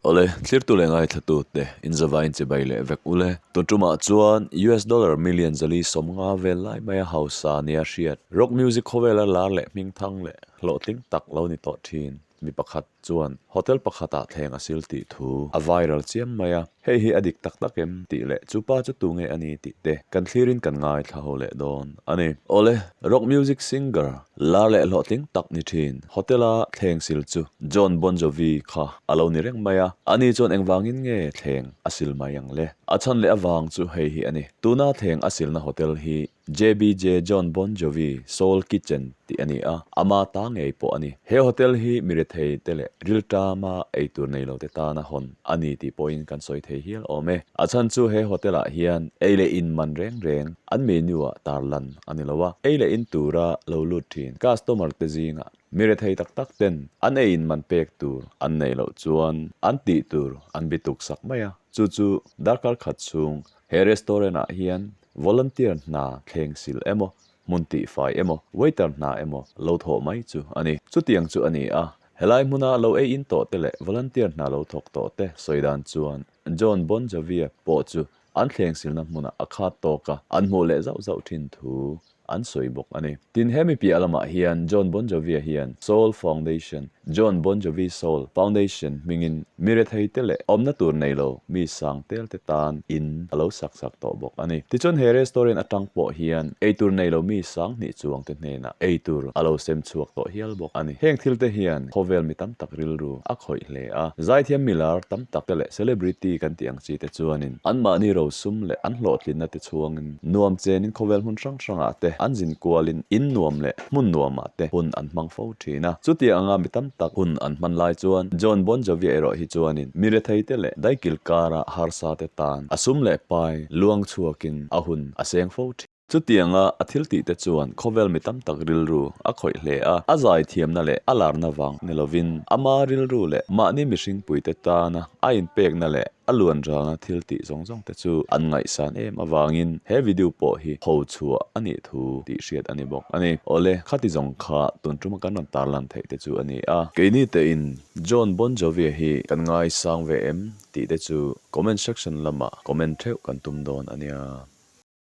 Awle, thlirtu leh ngaithlatute, inzava inchibai leh vek u le. Tuntumah chuan US dollar million zali sawmnga vel lai maia hausa nia a hriat. Rock music khawvela lar leh hmingthang leh hlawhtling tak lo ni tawh thin mi pakhat. chuan hotel pakhatah thleng a sil tih thu a viral chiam mai a, hei hi a dik tak tak em tih leh chu pa chu tunge a ni tih te kan thlirin kan ngaithla leh dawn a ni. Awle, rock music singer lar leh hlawhtling tak ni thin hotel-a thleng sil chu John Bon Jovi kha a lo ni reng mai a, a ni chuan engvangin nge thleng a sil mai ang le? A chhan leh a vang chu hei hi a ni, tuna thleng a silna hotel hi JBJ Jon Bon Jovi Soul Kitchen tih a ni a, ama ta ngei pawh a ni. He hotel hi mi rethei te leh rilṭama ei tur nei lo te tana hawn a ni tih pawhin kan sawi thei hial awm e. A chhan chu he hotel ah hian ei leh in man reng reng an menu ah tar lan a ni lo a, ei leh in tura lo lut ṭhin customer te zingah mi rethei tak tak ten an ei in man pek tur an nei loh chuan an tih tur an bituk sak mai a, chu chu darkar khat chhung he restaurant ah hian Volunteer hna thleng sil emaw, hmun tihfai emaw, waiter hna emaw lo thawh mai chu a ni. Chutiang chu a ni a, helai hmuna lo ei in tawhte leh volunteer hna lo thawk tawhte sawi dan chuan Jon Bon Joviah pawh chu an thleng silna hmuna a khat tawk a, an hmuh leh zauh zauh thin thu an sawi bawk a ni. Tin, he mi piah lamah hian Jon Bon Jovi-a hian Soul Foundation, Jon Bon Jovi Soul, Foundation hmingin mi retheite leh awmna tur nei lo mi sang telte tan in a lo sak chak tawh bawk a ni. Tichuan, he restaurant atang pawh hian eitur nei lo mi sang hnih chuangte hnenah eitur a lo sem chhuak tawh hial bawk a ni. Heng thilte hian khawvel mi tam tak rilru a khawih hle a, zaithiam mi lar tam tak te leh celebrity kan tih ang hian, Chi te chuanin, anmahni rosum leh an hlawhtlinna te chhuangin, nuam chenin khawvel hmun hrang hrangah te an zin kualin in nuam leh hmun nuamah te hun an hmang fo thin a. Chutiang anga mi tam tak hun an hman lai chuan John Bon Jovi-a erawh hi chuanin miretheite leh daikilkara harsa te tan a sum leh pai luang chhuakin a hun a seng fo thin. Chutianga a thiltihte chuan khawvel mi tam tak rilru a khawih hle a, a zaithiamna leh a larna vang ni lovin ama rilru leh mahni mihringpuite tana a inpekna leh a luanralna thiltih zawng zawng te chu an ngaihsan em avangin he video pawh hi ho chhuah a nih thu tih hriat a ni bawk a ni. Awle, khati zawng kha tun tuma kan rawn tarlan theih te chu a ni a. Kei ni tein Jon Bon Jovi-a hi kan ngaisang ve em? tih te chu comment section lamah comment theuh kan tum dawn a nia.